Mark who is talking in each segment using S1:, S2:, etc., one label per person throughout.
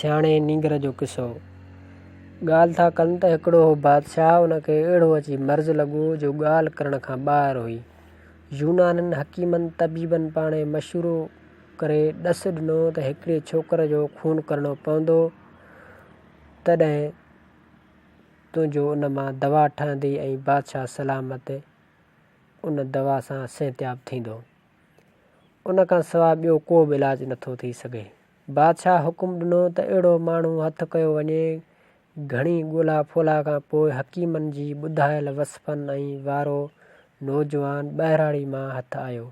S1: سياڻي نينگر جو قصو ڳالهه ٿا ڪن ته هڪڙو هو بادشاهه ان کي اهڙو اچي مرض لڳو جو ڳالهه ڪرڻ کان ٻاهر هئي. يونانين حڪيمن طبيبن پاڻهي مشورو ڪري ڏس ڏنو ته هڪڙي ڇوڪر جو خون ڪرڻو پوندو تڏهن تنهنجو ان مان دوا ٺهندي ۽ بادشاهه سلامت ان دوا سان صحتياب ٿيندو. ان کان سواء ٻيو ڪو به علاج نٿو ٿي سگهي. بادشاهه حڪم ڏنو ته اهڙو ماڻهو هٿ ڪيو وڃي. گهڻي ڳولا ڦولا کان پوء حڪيمن جي ٻڌايل وصفن ۽ وارو نوجوان ٻهراڙي مان هٿ آيو.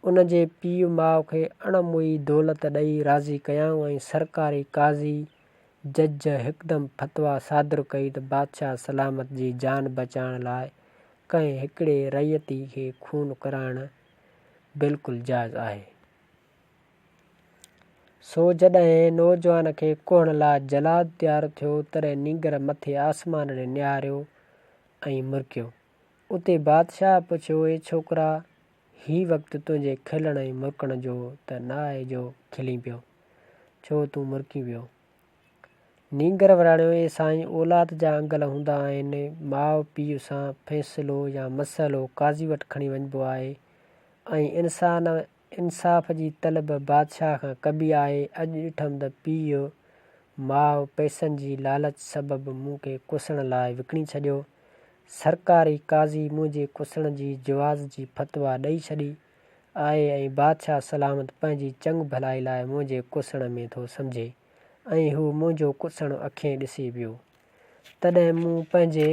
S1: ان جي پيء ماء کي اڻ موئي دولت ڏئي راضي ڪيائون ۽ سرڪاري قاضي، جج، هڪدم فتويٰ صادر ڪئي ته بادشاهه سلامت جي جان بچائڻ لاء ڪنهن هڪڙي رعيتي کي خون ڪرائڻ بلڪل جائز آهي. سو جڏهن نوجوان کي ڪوهڻ لاء جلاد تيار ٿيو، تڏهن نينگر مٿي آسمان ڏي نهاريو ۽ مرڪيو. اتي بادشاهه پڇيو، اي ڇوڪرا! هي وقت تنهنجي کلڻ ۽ مرڪڻ جو ته نه آهي جو کلين پيو، ڇو تون مرڪين پيو؟ نينگر وراڻيو، اي سائين! اولاد جا انگل هوندا آهن، ماء پيء سان فيصلو يا مسئلو قاضي وٽ کڻي وڃبو آهي ۽ انسان انصاف جي طلب بادشاهه کان ڪبي آهي، اڄ ڏٺم ته پيء ماء پئسن جي لالچ سبب مون کي ڪسڻ لاء وڪڻي ڇڏيو. سرڪاري قاضي منهنجي ڪسڻ جي جواز جي فتويٰ ڏئي ڇڏي آهي ۽ بادشاهه سلامت پنهنجي چڱ ڀلائي لاء منهنجي ڪسڻ ۾ ٿو سمجهي ۽ هو منهنجو ڪسڻ اکين ڏسي پيو. تڏهن مون پنهنجي.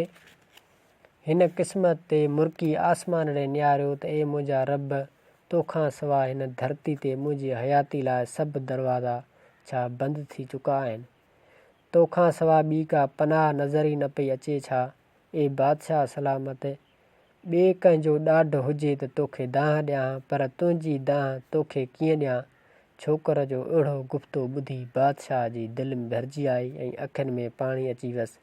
S1: هن قسمت تي مرڪي آسمان ڏي نهاريو ته اي منهنجا رب! تو کان سواء هن ڌرتي تي منهنجي حياتي لاء سڀ دروازا ڇا بند ٿي چڪا آهن؟ تو کان سواء ٻي ڪا پناهه نظر ئي نه پئي اچي ڇا؟ اي بادشاهه سلامت! ٻئي ڪنهن جو ڏاڍ هجي ته توکي دانهن ڏيان ها، پر تنهنجي دانهن توکي ڪيئن ڏيان؟ ڇوڪر جو اهڙو گفتو ٻڌي بادشاهه جي دل ۾ ڀرجي آئي ۽ اکين ۾ پاڻي اچي ويس.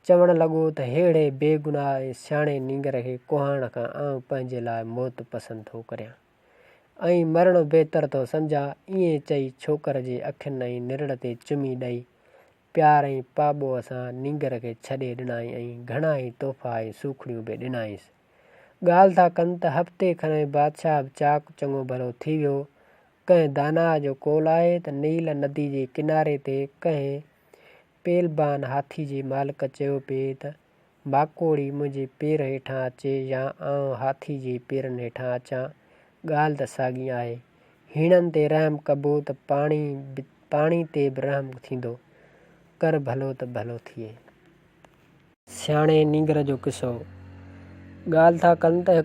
S1: چوڻ لڳو ته ههڙي بيگناهه ۽ سياڻي نينگر کي ڪوهائڻ کان آئون پنهنجي لاء موت پسند ٿو ڪريان ۽ مرڻو بهتر ٿو سمجهان. ائين چئي ڇوڪر جي اکين ۽ نرڙ تي چمي ڏئي، پيار ۽ پاٻوهه سان نينگر کي ڇڏي ڏنائين ۽ گهڻا ئي تحفا ۽ سوکڙيون به ڏنائينس. ڳالهه ٿا ڪن ته هفتي کن ۾ بادشاهه به چاق چڱو ڀلو ٿي ويو. ڪنهن داناء جو قول آهي ته نيل ندي جي ڪناري تي ڪنهن پهلبان هاٿي جي مالڪ چيو پئي ته ماڪوڙي منهنجي پير هيٺان اچي يا آئون هاٿي جي پيرن هيٺان اچان، ڳالهه ته ساڳي آهي. هيڻن تي رحم ڪبو ته پاڻي به پاڻي تي به رحم ٿيندو. ڪر ڀلو ته ڀلو ٿئي. سياڻي نينگر جو قصو ڳالهه ٿا ڪن ته هڪ.